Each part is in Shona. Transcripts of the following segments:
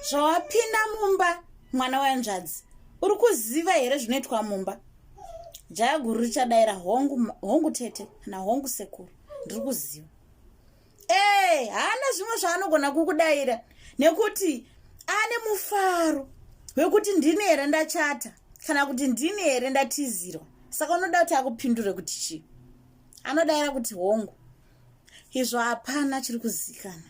zvawapinda mumba mwana wanzvadzi uri kuziva here zvinoitwa mumba jaya guru richadaira hongu, hongu tete kana hongu sekuru ndiri kuziva ee eh, haana zvimwe zvaanogona kukudaira nekuti ane mufaro wekuti ndini here ndachata kana kuti ndini here ndatizirwa saka unoda kuti akupindure kuti chii anodaira kuti hongu izvo hapana chiri kuzikana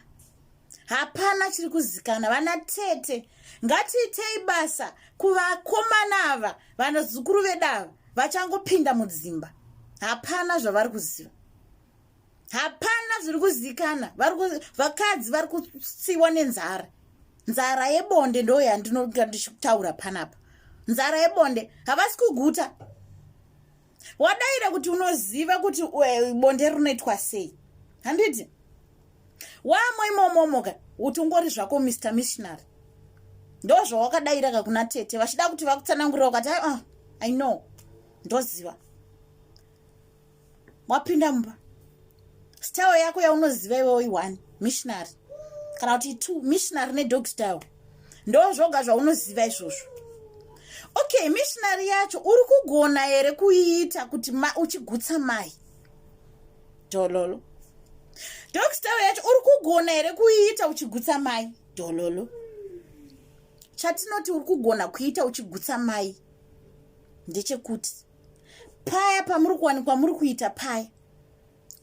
hapana chiri kuzikana vana tete ngatiitei basa kuvakomana ava vanazukuru vedava vachangopinda mudzimba hapana zvavari kuziva hapana zviri kuzikana vakadzi vari kutsiwa nenzara nzara yebonde ndo yandinoga ndichitaura panapa nzara yebonde havasi kuguta wadaira kuti unoziva kuti eh, bonde rinoitwa sei handiti wamo imomomoka utongori zvako mr missionary ndo zvawakadaira ka kuna tete vachida kuti vakutsanangurira ukati uh, ah, i know ndoziva wapinda mumba style yako yaunoziva iwewo ione missionary kana kuti two missionary nedog style ndo zvoga zvaunoziva izvozvo okay missionary yacho uri kugona here kuiita kuti ma, uchigutsa mai dololo dog style yacho uri kugona here kuiita uchigutsa mai dololo chatinoti uri kugona kuita uchigutsa mai ndechekuti paya pamuri kuwanikwa muri kuita paya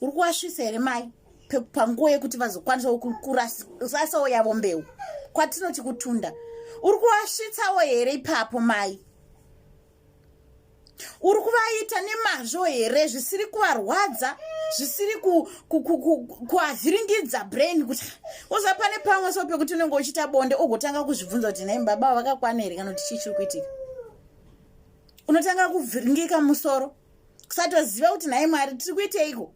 uri kuvasvisa here mai panguva yekuti vazokwanisawo kurasawo yavo mbeu kwatinoti kutunda uri kuvasvitsawo here ipapo mai uri kuvaita nemazvo here zvisiri kuvarwadza zvisiri kuavhiringidza brain kuti uza pane pamwe so pekuti unenge uchiita bonde ugotanga kuzvibvunza kuti nai baba vakakwana here kana kuti chii chiri kuitika unotanga kuvhiringika musoro kusatoziva kuti nhai mwari tiri kuiteiko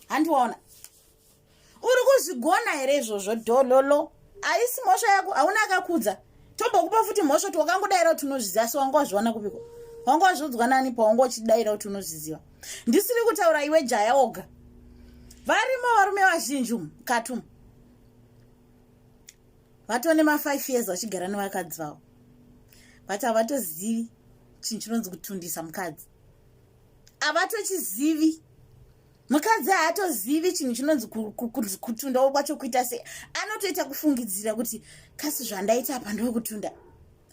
handi waona uri kuzvigona here izvozvo dhololo haisi mhosva yako hauna akakudza tombokupa futi mhosva kuti wakangodaira kuti unozviziva so wanga wazviona kupiko wanga wazviudzwa nani pawanga uchidaira kuti unozviziva ndisiri kutaura iwe jaya oga varimo varume vazhinji umu katumu vatone mafive years vachigara nevakadzi vavo but havatozivi chinhu chinonzi kutundisa mukadzi havatochizivi mukadzi haatozivi chinhu chinonzi kutundawo kwacho kuita sei anotoita kufungidzira kuti kasi zvandaita apa ndoo kutunda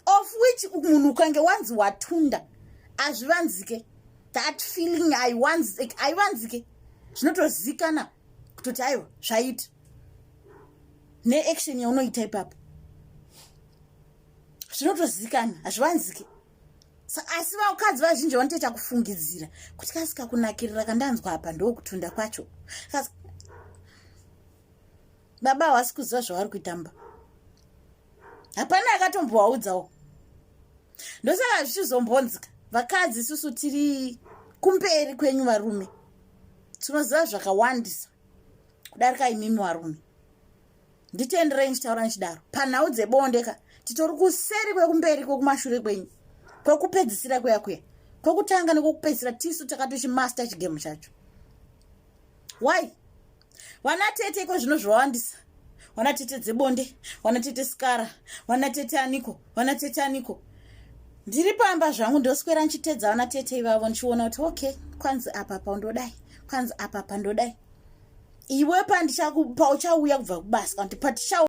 of which munhu ukange wanzi watunda hazvivanzike that feeling haivanzike zvinotozikanwa kutoti aiwa zvaita neaction yaunoita ipapo zvinotozikana hazvivanzike asi vakadzi vazhinji vanotoita kufungidzira kuti kasika kunakirira kandanzwa apa ndokutunda kwacho baba havasi kuziva zvavari kuitamba hapana akatombovaudzawo ndosaka zvichizombonzika vakadzi isusu tiri kumberi kwenyu varume tinoziva zvakawandisa kudarika imimi varume nditenderei ndichitaura ndichidaro panhau dzebonde ka titori kuseri kwekumberi kwekumashure kwenyu kwekupedzisira kuya kuya kwekutanga nekwekupedzisira tisu takatochimaster chigemo chacho why wana tete iko zvino zvawandisa wana tete dzebonde wana tete skara wana tete aniko wana tete aniko ndiri pamba zvangu ndoswera ndichitedza wana tete ivavo ndichiona kuti okay kwanzi apa pandodai kwanzi apa pandodai iwe pandichakupa uchauya kubva kubasa kuti patichau